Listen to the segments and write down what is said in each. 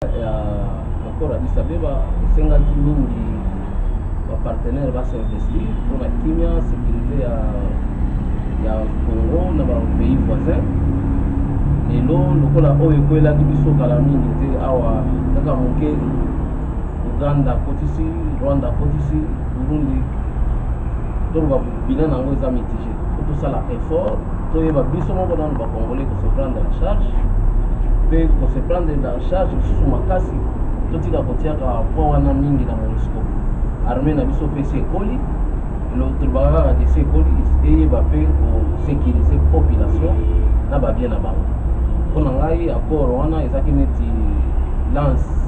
ya accord ya Addis Abeba esengaki mingi bapartenaire basinvestir mpo na kimia sécurité ya ya Congo na bapays voisin lelo lokola oyo ekwelaki biso kala mingi te awa kaka moke uganda akotisi rwanda akotisi burundi donc babina na yango eza mitige Faut tosala effort toyeba biso moko nanu ba congolais ko se prendre en charge mpe ko se prendre en charge lisusu makasi totika kotiaka point wana mingi na monisco armée na biso mpe esi ekoli tolobaka kaka te esi ekoli eyeba mpe kosécurise population na babien na bango mpo na ngai accord wana ezalaki neti lance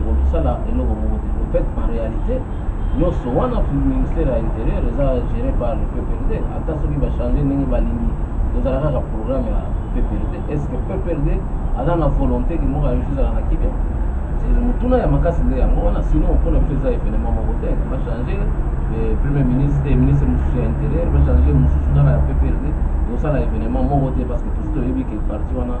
ekokisala eloko moko te en fait en réalité nyonso wana ministère ya intérieur eza géré par le pprd ata soki bachange ndenge balingi tozala kaka programme ya pprd est ce que pprd aza na volonté ke moko ayoki ezala na kibia motuna ya makasi nde yango wana sino mpona biso eza événement moko te bachange eh, premier ministre te eh, ministre mosusu ya intérieur bachange mosusu kaka ya pprd ekosala événement moko te parce que tosi toyebi ke parti wana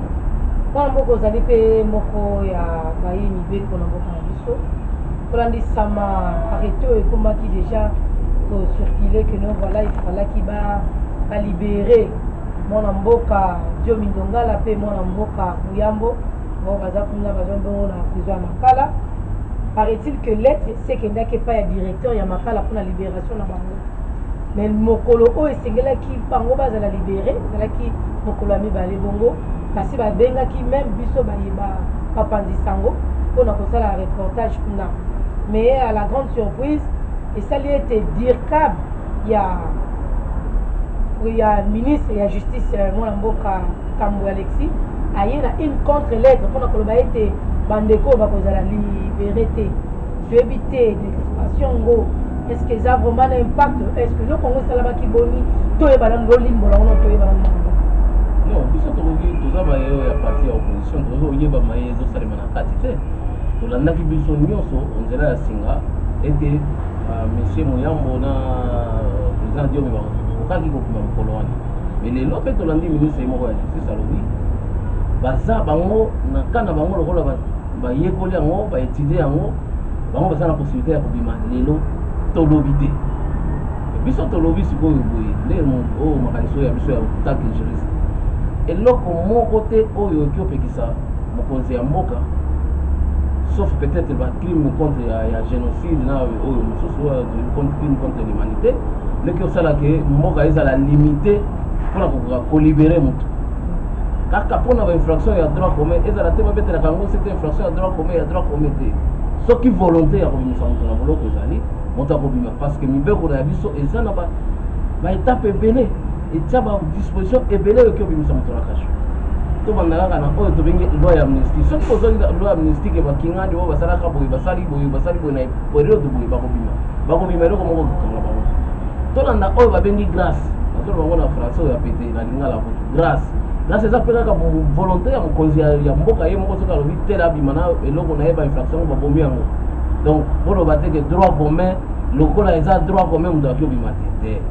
Mwana mboka ozali mpe moko ya baye mibeko na mboka na biso kolandisama arrete oyo ekomaki deja kocircule que no voilà ifalaki balibere mwana mboka dio mindongala mpe mwana mboka muyambo bango baza kuna baza bongo na prison ya makala paraît-il que lettre esekendaki epai ya directeur ya makala mpona libération na bango mais mokolo oyo esengelaki bango bazala libere ezalaki mokolo ya mibale bongo basi babengaki meme biso baye bapanzi sango mpona kosala reportage kuna mais à la grande surprise esali ete dircab ya ya ministre ya justice euh, mwana mboka kambo alexis aye na une contre lettre mpona koloba ete bandeko oyo bakozala libere te toyebi te deliberation yango est ce que eza vraiment na impact est ce que eloko yango esalamaki boni toyeba nanu lolimbola yango na toyeba nanu non biso tokoki toza baye oyo ya parti ya opposition tokoki koyeba maye ezosalema na kati te tolandaki biso nyonso nzela ya singa ete euh, monsieur moyambo na euh, président diomi bakokaki kokima mokolo wana me lelo mpe tolandi ministre ye moko ya justice alobi baza bango na kana bango lokola bayekoli yango baetudie yango bango baza na possibilité ya kobima lelo tolobi te biso tolobi sikoyo boye nde oyo oh, makanisi oyo ya biso ya tanke juriste eloko moko te oyo oki opekisa mokonzi ya mboka sauf peut-être bacrime contre ya, ya génocide na oyo mosusu crime contre l'humanité leki osalaka mboka ezala limité mpona kokoka kolibere motu kaka mpona bainfraction ya droit commun ezala te babetelaka yango sete infraction ya droit commun ya droit commun te soki volonté ya kobimisa moto na boloko ezali moto akobima parce que mibeko na ya biso eza na baetape ebele etya badisposition ebele oyoki obimisa moto na kasho tobanda kaka na oyo tobengi loi ya amnistie soki kozongi loi ya amnistie ke bakingandi oyo basalaka boye basali boye basali boye na periode boye bakobima bakobima eloko moko kokanga bango tolanda oyo babengi grace nazoloba yango na français oyo ya pete na lingala kutu grace grace eza mpe kaka volonté ya mokonzi ya mboka ye moko soki alobi tele abima na eloko na ye bainfraction yango babomi yango donc boloba te ke droit commun lokola eza droit commun moto aki obima te te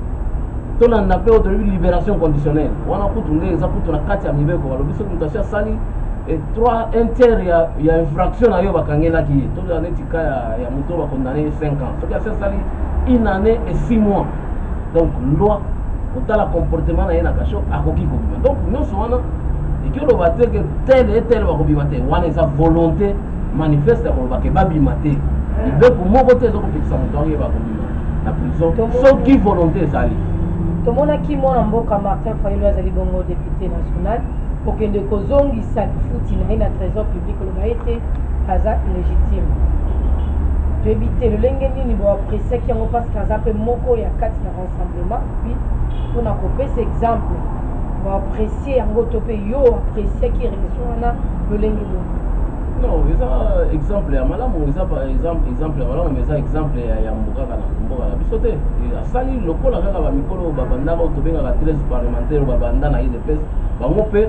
tolanda mpe oyo tolobi libération conditionnelle wana kutu nde eza kutu na kati ya mibeko balobi soki moto asi asali et trois un tiers ya, ya infraction na yo bakangelaki ye tozala neti ka ya, ya moto bakondane ye 5 ans soki asi asali une année et 6 mois donc loi kotala comportement na ye na kasho akoki kobima donc nyonso wana eki oloba te ke tele etele bakobima te wana eza volonté manifeste ya koloba ke babima te mibeko moko te ezokopekisa moto yango ye bakobima na prison soki volonté ezali tomonaki mwana mboka martin fayulu azali bongo depute national kokende kozongisa lifuti na ye na trésor public na ye te aza illegitime toyebi te lolenge nini boapresiaki yango parce que aza mpe moko ya kati na rassemblement puis mpo na kopesa exemple boapresie yango to mpe yo oapresiaki relation wana lolenge nini non eza exemple ya malamu eza exemple exemple ya malamu mais eza exemple ya yambo kaka na mboka na biso te asali lokola kaka bamikolo oyo babandaka oyo tobengaka 13 parlementaire oyo babanda na idps bango mpe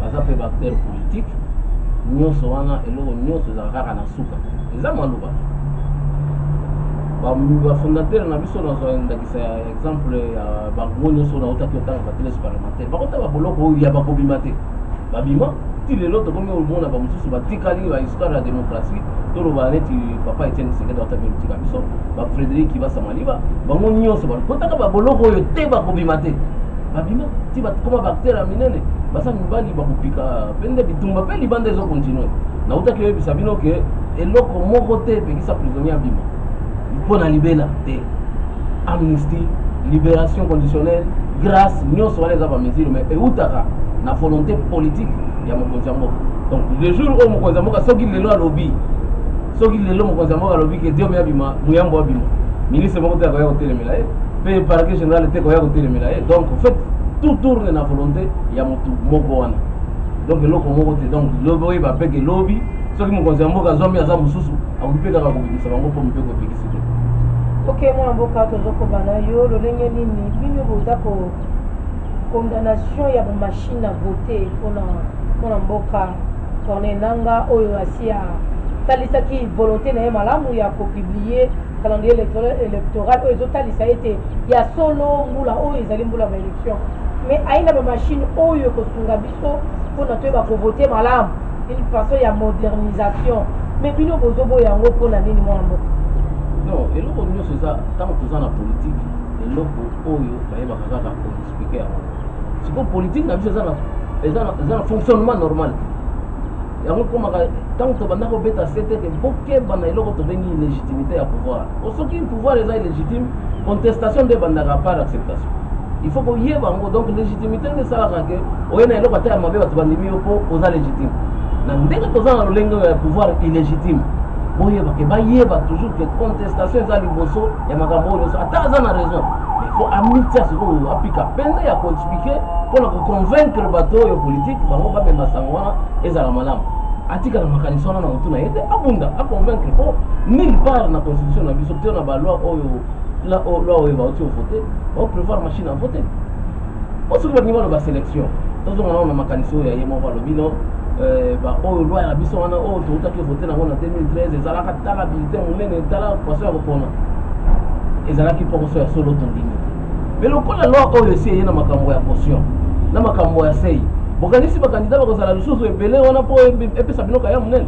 baza mpe baacteur politique nyonso wana eloko nyonso ezala kaka na suka eza maloba bafondateur na biso nazwa ndakisa ya exemple ya bango nyonso nautaki otanga bateles parlementaire bakota baboloko oyo ya bakobima te babima ti lelo tokomi omona bamosusu batikali bahistoire ya démocratie toloba neti papa etienne kisekedi autaki otika biso bafrédéric kibasa maliba bango nyonso bakotaka baboloko oyo te bakobima te babima ti bakoma baacteur ya minene basa mibali bakopika mpe nde bitumba mpe libanda ezo continue nautaki oyebisa bino ke eloko moko te epekisa prisonnier abima mpo na libela te amnistie libération conditionnelle grâce nyonso wana eza bamesure mais eutaka na volonté politique ya mokonzi ya mboka donc le jour oyo mokonzi ya mboka soki lelo alobi soki lelo mokonzi ya mboka alobi ke diome abima muyambo abima ministre moko te akoya kotelemela ye pe parquet general te koya kotelemela ye donc en fait tout tourne na volonté ya motu moko wana donc eloko moko te donc lobi oyeba mpe ke lobi soki mokonzi ya mboka azwami aza mosusu akoki mpe kaka kobimisa bango mpo mpe kopekisi te oke mwana mboka tozokoba na yo lolenge nini bino boza ko condamnation ya bamashine na vote mpona mpona mboka corne nanga oyo asi atalisaki volonté na ye malamu ya kopiblie Calendrier electoral electoral oyo ezotalisa ete ya solo mbula oyo ezali mbula ya baelection mais aina bamashine oyo ekosunga biso mpona toyeba kovote malamu une façon ya modernisation mais bino bozoboya yango mpona nini mwana mboka non eloko nyonso eza ntango toza na politike eloko oyo bayebaka kaka koexplike yango sikoyo politike na biso eza na fonctionnement normal yango ekomaka ntango tobanda kobeta sete te bokeba na eloko tobengi illégitimité ya pouvoir o soki pouvoir eza illégitime contestation nde ebandaka par acceptation il faut koyeba yango donc légitimité nde esalaka ke oye na eloko ata ya mabe bato bandimi yo mpo oza légitime na ndenge toza na lolenge ya pouvoir illégitime boyeba ke bayeba toujours ke contestation eza liboso ya makambo oyo nyonso ata aza na raison il faut amitia sikoyo apika mpenza ya koexplike mpo na koconvaincre bato oyo politike bango bamema sango wana ezala malamu atikala makanisi wana na motu na ye te abunda aconvaincre mpo nulle part na constitution na biso to na baloi oyo loi oyo bauti ovote baoprévoir machine a vote mpo soki balingi baloba sélection tozonga nao na makanisi oyo ya ye moko alobi no euh, baoyo loi ya biso wana oyo toutaki vote nango na 2013 ezalaka tala bulletin monene tala poisson ya kopona ezalaki mpokoso ya solo tondimi Mais lokola loi oyo esi eye na makambo ya caution na makambo ya sei bokanisi bakandida bakozala lisusu ebele wana mpo epesa bino kaya monene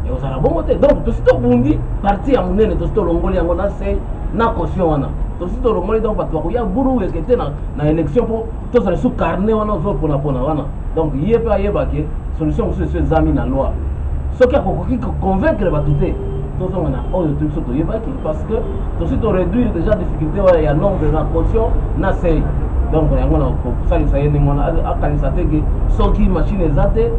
ekozala bongo te donc tosi tobundi parti ya monene tosi tolongoli yango na sei na caution wana tosi tolongoli donc bato bakoya buru ekete na, na élection mpo tozala su carnet wana ozoponapona wana donc ye mpe ayeba ke solution mosusu eso ezami na loi soki akokoki koconvaincre bato te tozonga na oyo to biso toyebaki parce que tosi toréduire déjà difficulté wana ya nombre na caution na sei donc yango na kosalisa ye ndenge wana akanisa te ke soki machine eza te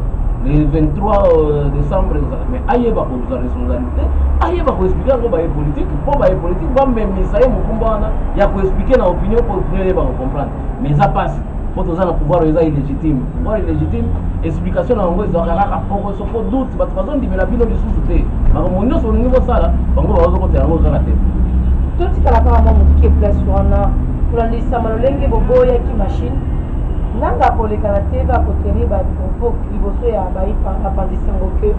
le 23 euh, décembre ezala mais ayeba kozwa responsabilité ayeba koexplike yango baye politike mpo baye politike bamemisa ye mokumba wana ya koexplike na opinion mpo opinion eyeba kocomprendre mais eza mpasi mpo toza na pouvoir oyo eza illégitime pouvoir illégitime explication na yango ezwaka kaka poko soko doute bato bazondimela bino lisusu te makambo nyonso olingi kosala bango bazokota yango kaka te totikala kaka mwa moke place wana kolandisama lolenge boboyaki machine nanga kolekana te bakotenir bapropos liboso ya bapandisango ke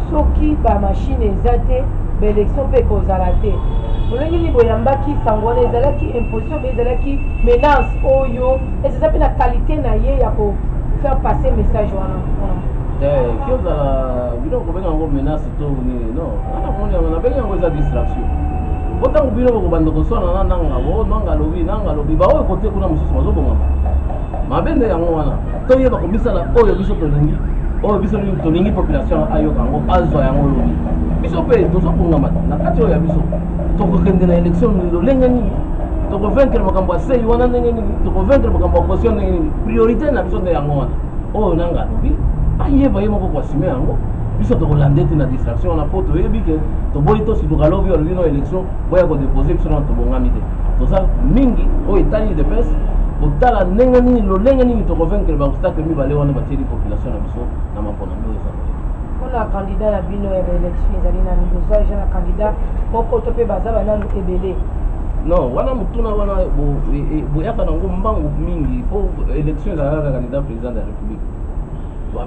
soki bamashine eza te baélection mpe ekozala te lolenge nini boyambaki sango wana ezalaki imposition ezalaki menace oyo esi eza mpe na qualité na ye ya ko faire passer message wana eki ozala bino kobenga yango menace to nini non wana moni yango nabengi yango eza distraction po ntango bino bokobanda koswana na nanga o oh, nanga alobi nanga alobi baoyo kote kuna mosusu bazobongama mabe nde yango wana toyeba komisala oyo biso tolingi oyo biso tolingi population ayoka yango azwa yango lobi biso mpe tozobongama na kati oyo ya biso tokokende na élection lolenge nini tokovaincre makambo ya sei wana ndenge nini tokovaincre makambo ya caution ndenge nini priorité na biso nde yango wana oyo nanga alobi ayeba ye moko koasime yango biso tokolanda ete na distraction wana mpo toyebi ke toboyi tosiduka lobi olobi no élection boya kodepose biso nano tobongami te toza mingi oyo etali udps kotala ndenge nini lolenge nini tokovaincre baobstacle mibale wana batieli population na biso na maponami oyo eza koleka bino ya baélection ezali nanu bozwa eja na candidat moko to mpe baza bananu ebele non wana motuna wana boyaka nango mbangu mingi mpo élection ezalaka candidat président de la république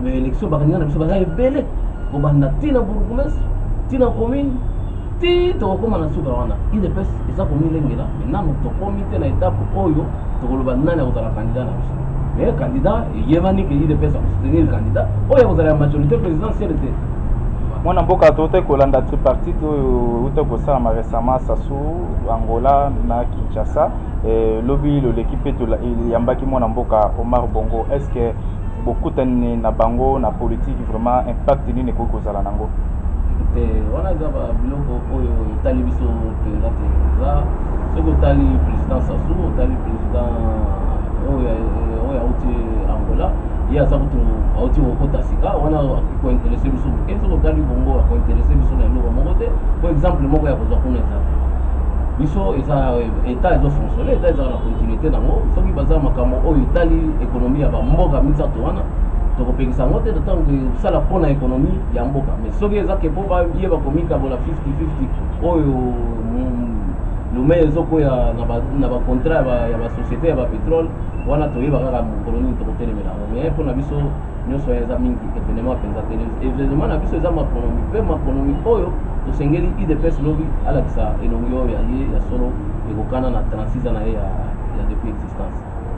baélection bakandidat na biso baza ebele kobanda ntina bourgoumestre ntina commune ti tokokóma na suka wana idps eza komilengela me nanu tokómi te na etape oyo tokoloba nani akozala candidat na biso mais candidat eyebani ke udps akosoutenir candidat oyo akozala ya majorité présidentielle te mwana mboka tote kolanda tripartite oyo euta kosalama récemment sasu angola na kinshasa eh, lobi loleki mpe eyambaki mwana mboka omar bongo est ce que bokutani na bango na politiki vraiment impact nini ekoki kozala nango te wana eza babiloko oyo etali biso mpenza te eza soki otali président sasu otali ye aza kutu auti kokota sika wana kointerese biso moke soki otali bongo akointerese biso na eloko moko te po exemple moko ya kozwa kuna eza te biso eza eh, etat ezo fonctionne etat ezaka na continuité nango soki baza makambo oyo etali ekonomi ya bamboka misato wana tokopekisa yango te ntango tosala mpo na ekonomi ya mboka mais soki eza ke mpo baye bakomikabola 50 50 oyo lomei ezokwea na bacontrat ya basociété ya bapetrole wana toyeba kaka mokolo nini tokotelemela yango mais mpo na biso nyonso wana eza mingi evenement mpenza te evenement na biso eza macronomie mpe macronomie oyo tosengeli idps lobi alakisa elongi oyo ya ye ya solo ekokana na 36 ans na ye ya depuis existence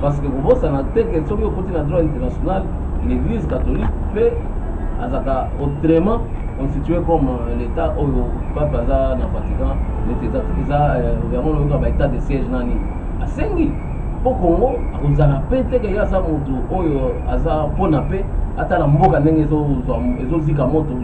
Parce que kobosana te que soki okoti na droit international, l'église catholique pe azaka autrement constitué comme euh, l'état oyo pape aza na Vatican, neti eza eza euh, yango loyoka ba état de siège nani asengi po Congo akozala pe te ke aza moto oyo aza pona pe atala mboka ndenge ezozika moto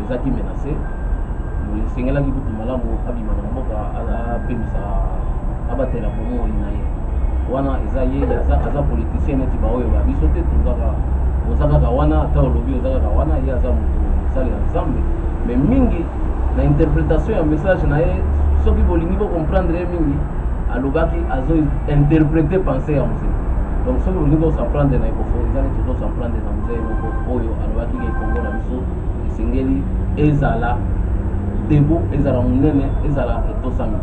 ezalaki menase esengelaki kutu malamu abima na mboka apemisa abatela bomoi na ye wana eza ye aza politicien neti baoyo ba biso te tozaka oza kaka wana ata olobi oza kaka wana ye aza moto mosali ya nzambe me mingi na interpretation ya message na ye soki bolingi bocomprendre ye mingi alobaki azo interprete pensé ya mose donc soki olingi osamprendre na ekofo eza neti ozosamprendre na mose moko oyo alobaki ke kongo na biso esengeli ezala debo ezala monene ezala etosami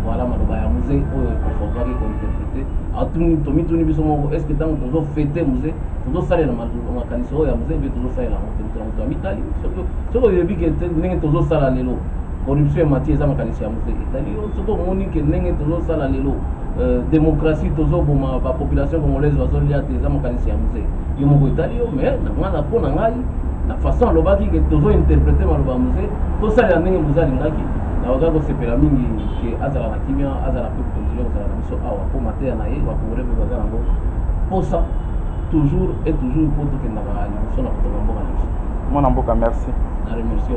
voilà maloba ya muse oyo econfortaki kointerprete atuni tomituni biso moko estce ntango tozofete muse tozosalela makanisi oyo ya muse mpe tozosalela yango te moto na moto amitali soki oyebi ke ndenge tozosala lelo corruption emati eza makanisi ya muse etali yo soki omoni ke ndenge tozosala lelo euh, démocratie tozoboma bapopulation congolaise bazolia te eza makanisi ya muse yo moko etali yo mais na ngai mpo na ngai na façon alobaki ke tozo interprete maloba ya mose tosalela ndenge mose alingaki nakoka kosepela mingi ke azala na kimia azala mpe continue kozala na biso awa mpo mateya na ye bakongole mpe baza nango mposa toujours et toujours mpo tokendaka liboso na kotonga mboka na biso mwana mboka merci na remercie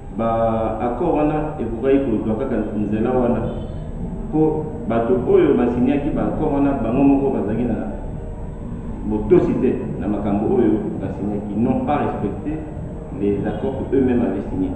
Ba accords wana ekokaki kozwa kaka nzela wana mpo bato oyo basinyaki ba accords wana bango moko bazalaki na botosi te na makambo oyo basinyaki, n'ont pas respecte les accords que eux-memes avaient signes.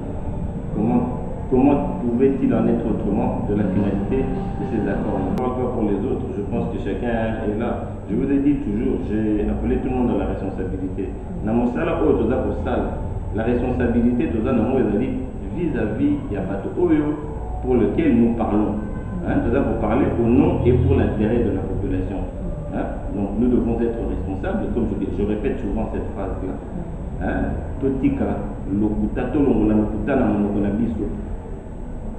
Comment, comment pouvait-il en être autrement de la finalité de ces accords Je ne parle pas pour les autres, je pense que chacun est là. Je vous ai dit toujours, j'ai appelé tout le monde à la responsabilité. Na mosala oyo toza kosala, la responsabilite toza nango ezali vis à vis ya bato oyo pour lequel nous parlons hein, toza ko parler au nom et pour l'interet de la population hein, donc nous devons etre responsables comme je, je repète souvent cette phrase là hein, totika lokuta, tolongola lokuta na monoko na biso.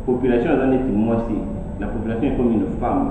Population aza neti mwasi, la population ekomi une femme.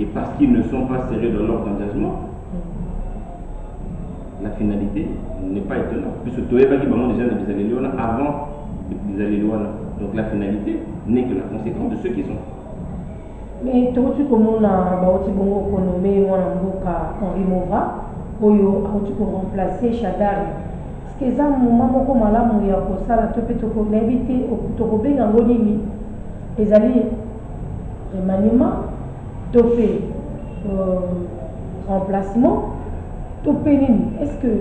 et parce qu'ils ne sont pas sérieux dans leur engagement la finalité n'est pas étonnant puisque toyebaki bango déjà na bizaleli wana avant bizaleli wana donc la finalité n'est que la conséquence de ceux qui sont mais touti komona bauti bongo konome mwana mboka henri mova oyo auti koremplace shadari ce eza moma moko malamu ya kosala to mpe nayebi te tokobenga yango nini ezali remaniement to mpe euh, remplacement to mpe nini est ce que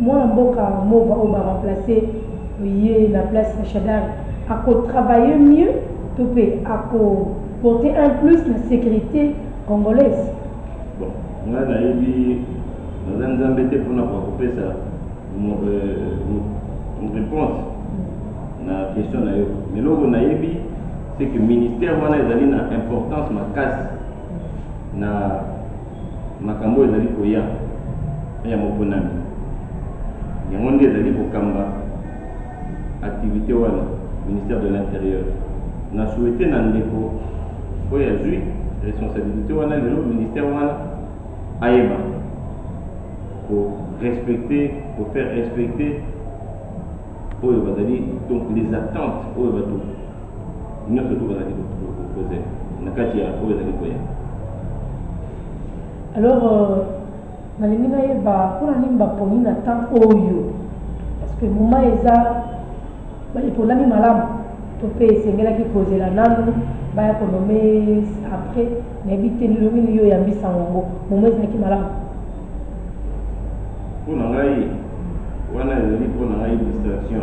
mwana mboka mova oyo baremplace ye na place ya shadari akotravaille mieux to mpe akoporte un plus na sécurité congolaise bon ngai nayebi naza nzambe te mpona kopesa euh, réponse na question na yo eloko nayebi c'est que ministère wana ezali na importance makasi na makambo ezali koya ya moponami yango nde ezali kokamba activité wana ministère de l'intérieur na souhaite na ndeko oyo azwi responsabilité wana lelo ministère wana ayeba ko respecter ko faire respecter oyo bazali donc les attentes oyo bato Nionso tout bazalaki kozela na kati ya oyo ezali koya. Alors, euh, nalingi nayeba mpona nini baponi na temps oyo parce que moment eza eponami malamu to mpe esengelaki kozela nanu baya konome après nayebi te lilongi nini yo oyambisa yango momo ezalaki malamu mpo na ngai wana ezali mpo na ngai distraction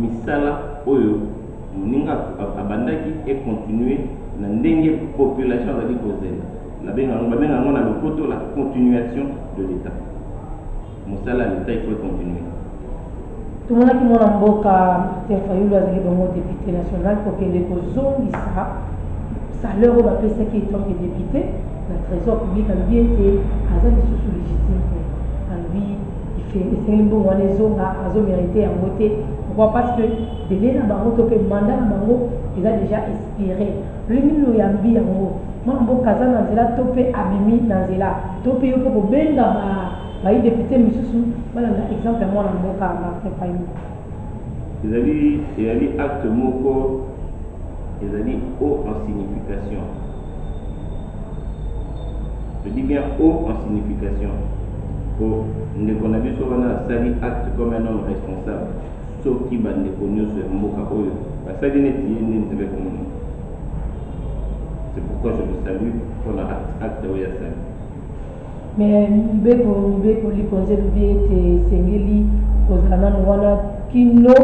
misala oyo moninga abandaki e continuer na ndenge population azali kozela babengaka yango na lopoto la continuation de l'etat mosala ya l'etat il faut e continuer tomonaki mwana mboka Peter Fayulu azali bongo depute national kokende kozongisa salaire oyo bapesaki etant que depute na trésor public alobi ete aza lisusu légitime te alobi Esengeli mbongo wana ezonga, azo merite yango te. Pourquoi? Parce que delai na bango to pe mandat na bango eza dejà expire. Lolenge nini oyambi yango? Mwana mboka aza na nzela to pe abimi na nzela? To pe yo pe okobenga ba bayi depute misusu balanda exemple ya mwana mboka Martin Fayulu? Ezali, ezali acte moko ezali haut en signification. Toyebi bien O en signification. Po ndeko na biso wana asali acte comme un homme responsable. Soki ba ndeko nioso ya mboka oyo basali neti ye nde Nzambe akomona. C'est pourquoi je le salue pona acte oyo asali. Me Mibeko Mibeko likonzi elobi ete esengeli kozala nanu wana kino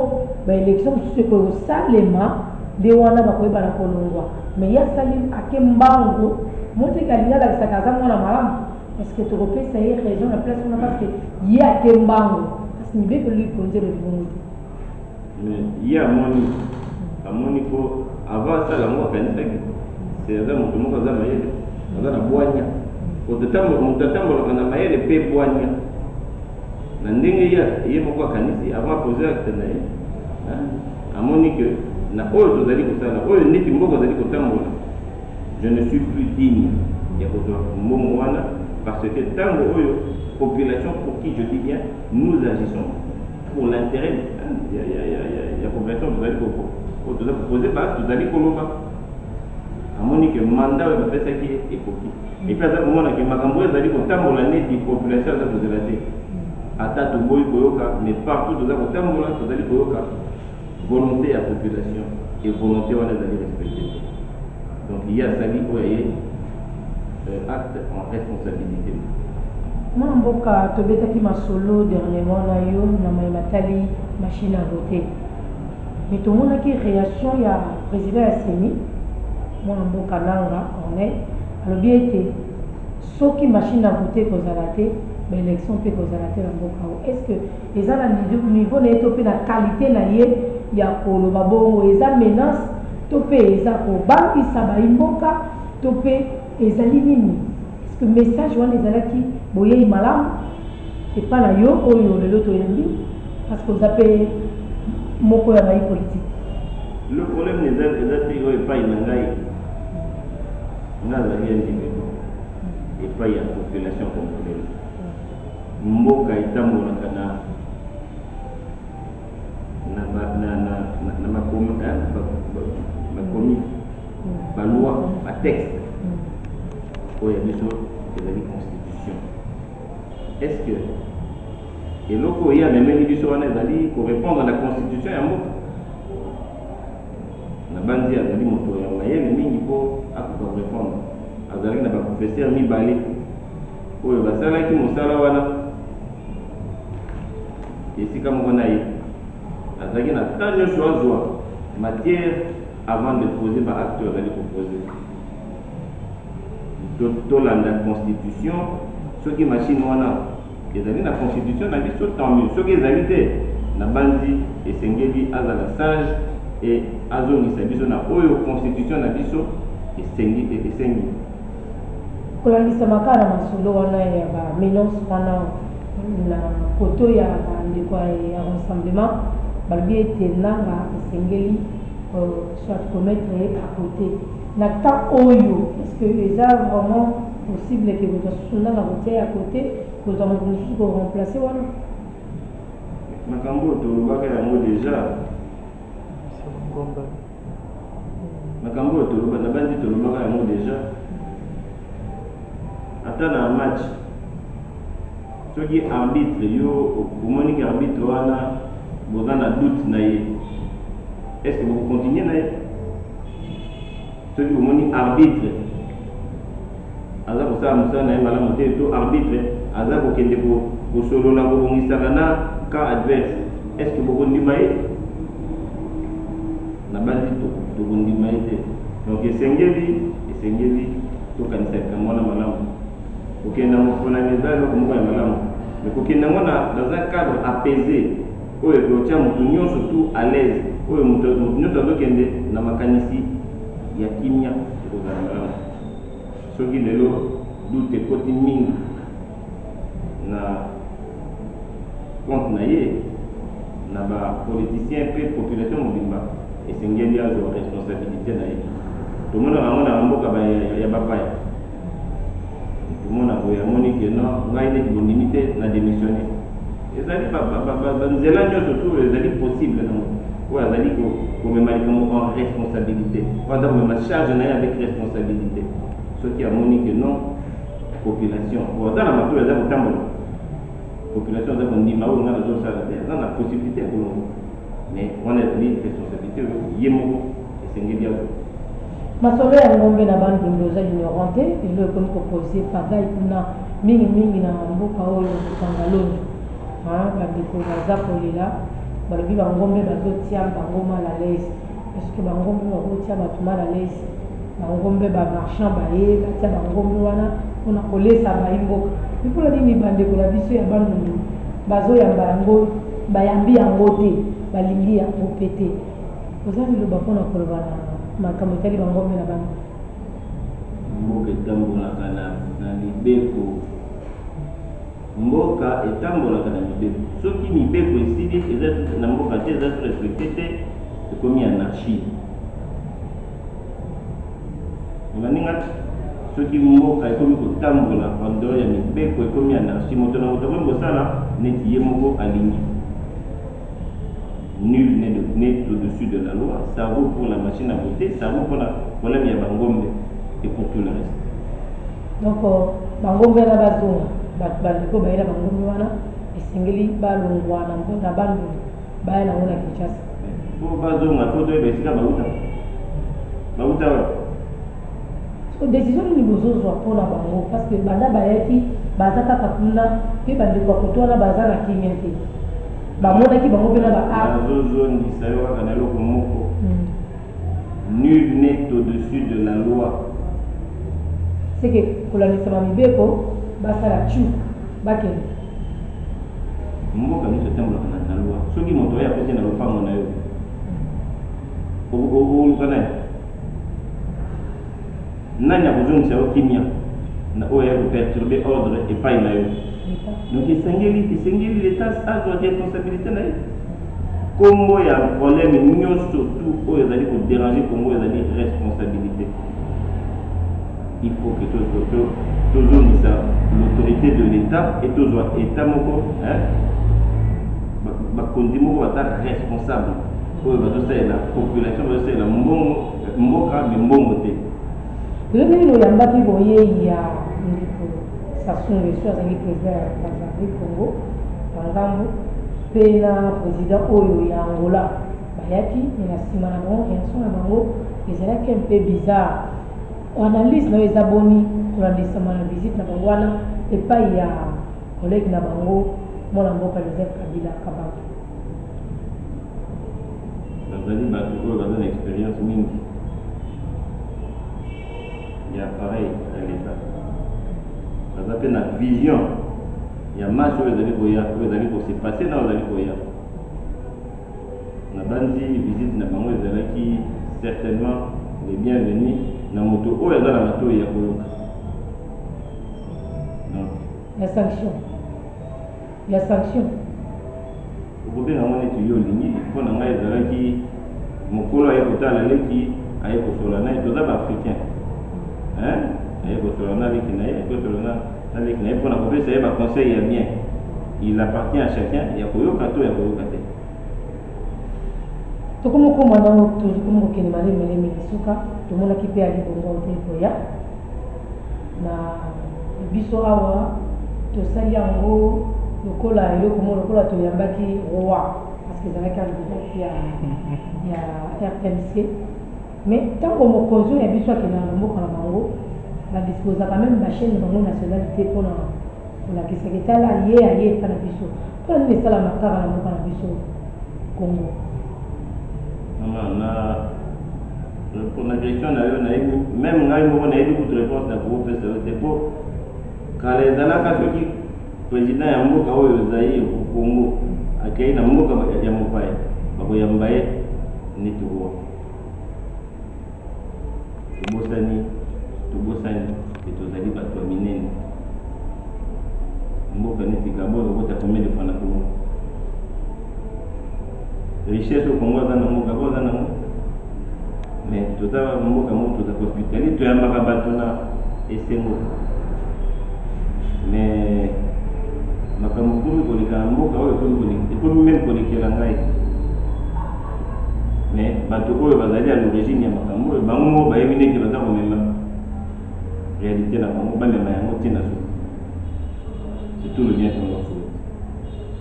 ba elections mosusu ekoki kosalema nde wana bakoyeba na kolongwa. Me ye asali ake mbangu omoni te ke alingi alakisa ke aza mwana malamu est ce que tokopesa ye raison na place wana parce que ye ake mbangu kasi Mibeko likonzi elobi bongo te. Mais ye amoni amoni po avant asala yango akanisaki te aza moto moko aza mayele aza na bwanya moto atambolaka na mayele mpe bwanya na ndenge ye moko akanisi avant apose acte na ye amoni ke na oyo tozali kosala oyo neti mboka ozali kotambola je ne suis plus digne ya kozwa mbongo wana parce que ntango oyo population pour qui je dis bien nous agissons Pour l'interet ya ya ya ya ya population tozali ko ko toza ko poser ba tozali koloba amoni que mandat oyo bapesaki ye ekoki epuis aza komona ke makambo oyo ezali kotambola neti population aza kozela te ata toboyi koyoka mais partout toza kotambola tozali koyoka volonte ya population et volonte wana ezali respecte te donc ye asali oyo aye euh, acte en responsabilité mwana mboka tobetaki masolo dernièrement na yo na mai matali machine à voter me tomonaki réaction ya président ya seni mwana mboka nanga corneille alobi ete soki machine à voter ekozala te baélection mpe ekozala te na mboka o est ce que Eza na niveau naye to pe na qualite naye ya koloba bongo eza menace to pe eza ko bangisa bayi mboka to pe ezali nini est-ce que message wana ezalaki boyeyi malamu epa na yo oyo lelo toyambi parce que oza pe moko ya bayi politique Le problème eza eza te oyo epai na ngai nga nazali ya ndimi epai ya population congolaise Mboka etambolaka na bakomi, ba lois, ba textes oyo ya biso ezali constitution. Est-ce que eloko oyo ye amemeli biso wana ezali korepondre na constitution ya mboka? nabanzi azali moto ya mayele mingi mpo akoka korepondre azalaki na baprofesere mibale oyo basalaki mosala wana esika moko na ye azalaki na temps nyonso azwa matière avant de poser ba acte oyo azali koposer tolanda constitution soki machine wana ezali na constitution na biso tant mieux soki ezali te nabanzi esengeli azala sage e azongisa biso na oyo constitution na biso esengi esengi Kolangisama kaka na masolo wana ya ba menances wana na koto ya ba ndeko ya Rassemblement, balobi ete Nanga esengeli soit ko mettre ye à cote na temps oyo. Est-ce que eza vraiment possible que moto asusu Nanga kotia ye à cote, kozua moto mosusu ko remplacer wana? Makambo oyo tolobaka yango dejà. makambo oyo toloba na bandi tolobaka yango deja ata na match soki arbitre yo omoni ke arbitre wana boza na doute na ye est ce que bokocontinue na ye soki omoni arbitre aza kosala mosala na ye malamu te to arbitre aza kokende kosolola kobongisaka na camp adverse est ce que bokondima ye nabanzi tokondima ye te donc esengeli esengeli tokanisa likambo wana malamu kokenda mofonami eza eloko moko ya malamu me kokenda yango dans un cadre apaisé oyo ekotya moto nyonso tout à l'aise oyo moto nyonso azokende na makanisi ya kimia ekozala malamu Soki lelo doute ekoti mingi na compte na ye, na ba politiciens mpe population mobimba esengeli azua responsabilite na ye. Tomonaka yango na ba mboka ya bapaya. Komona boye amoni que non, ngai neti bondimi te, na demissionner. Ezali ba nzela nionso tout oyo ezali possible na mokili. oyo azali komema likambo en responsabilité oyo aza komema charge na ye avec responsabilité soki amoni ke non population oyo aza na matoi aza kotambola population aza kondima oyo ngai nazosala te aza na possibilité ya kolongo mais wana ezali responsabilité oyo ye moko esengeli yango masolo ya ngombe na bandundu oza ignorant te elo ekomi kopose pagai kuna mingimingi na mboka oyo kokanga longi Haa bandeko naza kolela balobi ba ngombe bazo tia bango mal à l'aise est ce que ba ngombe bako tia batu mal à l'aise ba ngombe ba marchand baye batia ba ngombe wana pona kolesa bayi mboka mais pona nini bandeko na biso ya bandundu bazo yamba yango bayambi yango te balingi yango pe te oza liloba pona koloba na makambo etali ba ngombe na bana mboka etambolaka na mibeko Mboka etambolaka na mibeko. Soki mibeko esili eza na mboka te eza respecte te ekomi anarchie. Maninga soki mboka ekomi kotambola en dehors ya mibeko ekomi anarchie moto na moto akomi kosala neti ye moko alingi. nul n'est de n'est au-dessus de la loi ça vaut pour la machine à voter ça vaut pour la problème ya bangombe et pour tout le reste donc euh, bangombe wana bazonga bato bandeko baye na bangombe wana esengeli balongwa na mpona banduli baya nango na kinshasa po bazonga po toyeba esika bauta bauta wapi Sikoyo decision nini bozo zwa po na bango parce que banda bayaki baza kaka kuna pe ba ndeko ya kote wana baza na kimia te ba monaki bango pe na ba a Nazo zongisa yo kaka na eloko moko nul n'est au dessus de la loi. Ce que kolandisa ba mibeko ba sala tchoup ba kende. Mboka nionso etambolaka na loi soki moto oyo akoti na lopango na yo. okozala naye nani akozongisa yo kimia na oyo ya koperturbe ordre epai na yo donc esengeli esengeli leta azwa responsabilité na ye nkombo ya problème nyonso tu oyo ezali koderange kongo ezali responsabilité il faut que tozongisa l'autorité de l'état et tozwa état moko bakonzi moko baza responsable oyo bazosalela population bazosalela mbongo mboka me mbongo te lobi nini oyambaki boyei ya ndeko sasunga esu azali president ya tanzanie congo na ngambo mpe na president oyo ya angola bayaki me na nsima na bango reaction na bango ezalaki mpe bizarre analyse na yo eza boni kolandisama na visite na bango wana epai ya kolege na bango mwana mboka joseph kabila kabaka bazali bato oyo baza na experience mingi ya appareil ya leta baza mpe na vision ya match oyo ezali koya oyo ezali kose passe na oyo ezali koya nabanzi visite na bango ezalaki certainement le bienvenu na moto oyo aza na matoi ya koyoka donc la sanction ya sanction. Okobenga yango neti yo olingi, po na ngai ezalaki mokolo aye kotala leki, aye kosolola na ye, toza ba africains hein, aye kosolola na leki na ye, aye kosolola na leki na ye pona kopesa ye ba conseils ya bien, il appartient à chacun ya koyoka to ya koyoka te. tokomokoma nango tokomi kokende malemeleme na suka tomonaki mpe alibongo mpe koya na biso awa tosali yango lokola eloko mo lokola toyambaki roi parce que ezalaki alibongo ya, ya rtmc mais ntango mokonzi oyo ya biso akendaka na mboka na bango badisposaka meme bachaine na bango nationalité mpona Kolakisa ke tala ye aye epa na biso pona nini esalama kaka na mboka na biso congo. Maman na repona question na yo nayebi meme ngai moko nayebi kutu reponse na koko pesa yo te po kala ezalaka soki president ya mboka oyo zaire congo akei na mboka ya mopaya bakoyamba ye neti roi Tobosani, tobosani que tozali bato ya minene. Mboka neti Gabon ekokota combien de fois na Congo? Richesse au Congo aza nango, Gabon aza nango. Mais toza mboka moko toza hospitalier, toyambaka bato na esengo. Mais makambo ekomi koleka na mboka oyo, ekomi meme kolekela ngai. mais bato oyo bazali à l'origine ya makambo oyo bango moko bayebi ndenge baza komema réalité na bango bamema yango te na suka surtout le bien tongo fulu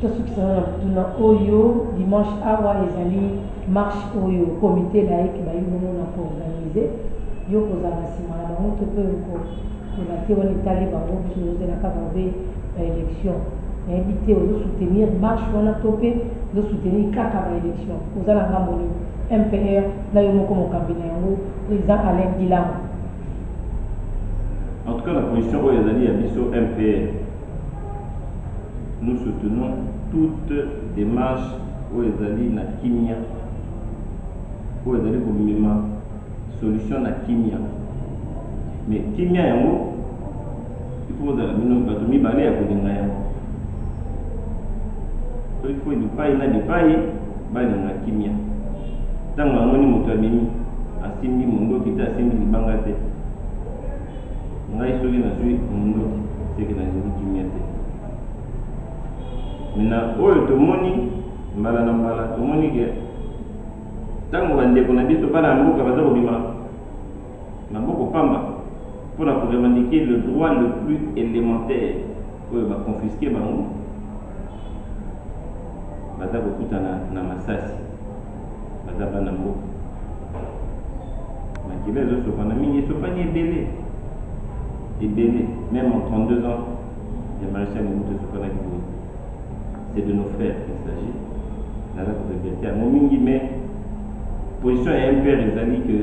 tosukisana na motuna oyo dimanche awa ezali marche oyo comité laïque bayi bongo na koorganize yo kozala nsima na bango to mpe oko Pona te wana etali bango biso tozo zela kaka mabe ba election nayebi te ozo soutenir marche wana to pe ozo soutenir kaka ba election oza na ngambo nini MPR na yo moko mokambi na yango president Alain Gilamu. En tout cas na position oyo ezali ya biso MPR nous soutenons toute demarche oyo ezali na kimia oyo ezali komema solution na kimia mais kimia yango ifo kozala bino bato mibale ya kolinga yango soki fo bipai na bipai balinga kimia ntango amoni moto abimi asimbi mondoki te asimbi libanga te ngai soki nazwi mondoki seke nalingi kimia te na oyo tomoni mbala na mbala tomoni ke Ntango bandeko na biso bana ya mboka baza kobima maboko pamba mpo na ko revendiquer le droit le plus elementaire oyo ba confisquer bango, baza kokutana na masasi. Baza bana mboka. Makila ezosopana mingi, esopani ebele ebele, meme en 32 ans ya Marechal Mobutu esopanaki boye. c'est de nos frères qu'il s'agit naza koregrete yango mingi mais position ya mpr ezali que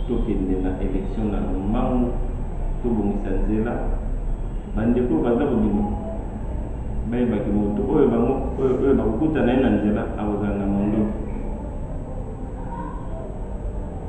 tokende na élection na mango tobongisa nzela bandeko oyo baza kobima bayebaki moto oyo bango oyo bakokutana ye na nzela akozala na mondoki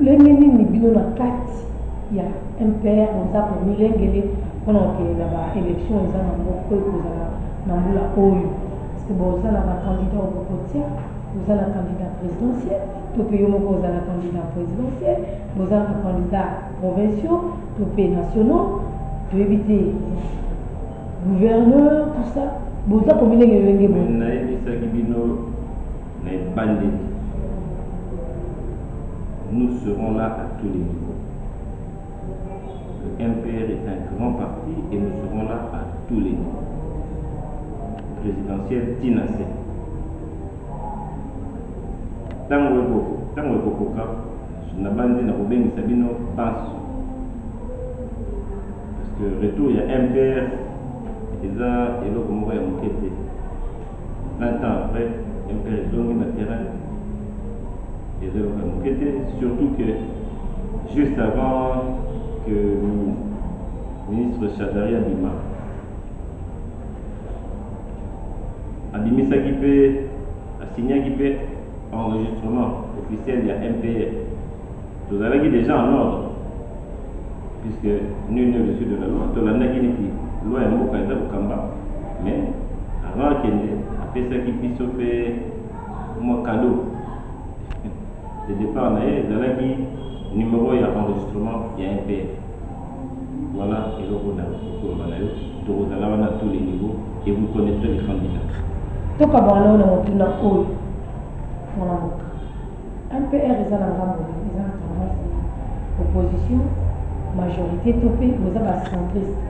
Lolenge nini bino na kati ya MPR boza ko milengele pona ko kende na ba elections eza na ngo oyo ekozala na mbula oyo? Est ce que boza na ba candidats oyo boko tia? Boza na candidat presidentiel to pe yo moko oza na candidat presidentiel? Boza na ba candidats provinciaux to pe nationaux? Toyebi te. Gouverneur tout ça boza ko milengele lolenge boni? Nayebisaki bino. na ebandeli nous serons là à tous les niveaux le MPR est un grand parti et nous serons là à tous les niveaux présidentielle ti na se ntango ekokoka nabanzi na kobengisa bino banso parce que retour ya MPR eza eloko moko ya moke te 20 ans après MK ezongi na terrain eza eloko ya moke te surtout que juste avant que ministre Shadari abima abimisaki mpe asignaki mpe enregistrement officiel ya MPR Tozalaki dejà en ordre puisque nul n'est au-dessus de la loi, tolandaki neti loi ya mboka eza kokamba mais avant akende apesaki biso mpe mwa cadeau de départ na ye ezalaki numero ya enregistrement ya MPF. Voilà eloko na kokoloba na yo, tokozala wana à tous les niveaux et vous connaîtrez les candidats. Tokabwana na motuna oyo, mwana mboka. MPR eza na ngambo te eza na tendance ya opposition majorite to pe boza ba centriste.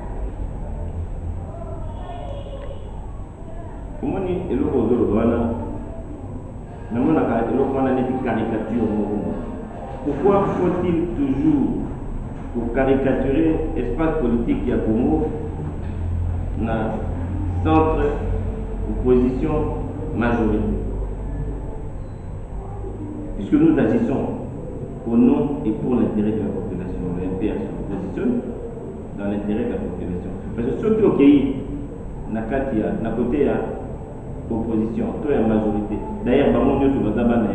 Omoni eloko ozo loba wana namonaka eloko wana neti caricature moko boye. Pourquoi faut-il toujours ko caricaturer espace politique ya Congo na centre opposition majorite? Puisque nous agissons au nom et pour l'intérêt de la population, le MPR s'oppositionne dans l'intérêt de la population. Parce que soki okei na kati ya na kote ya opposition to ya majorité, d'ailleurs bango nyonso baza bana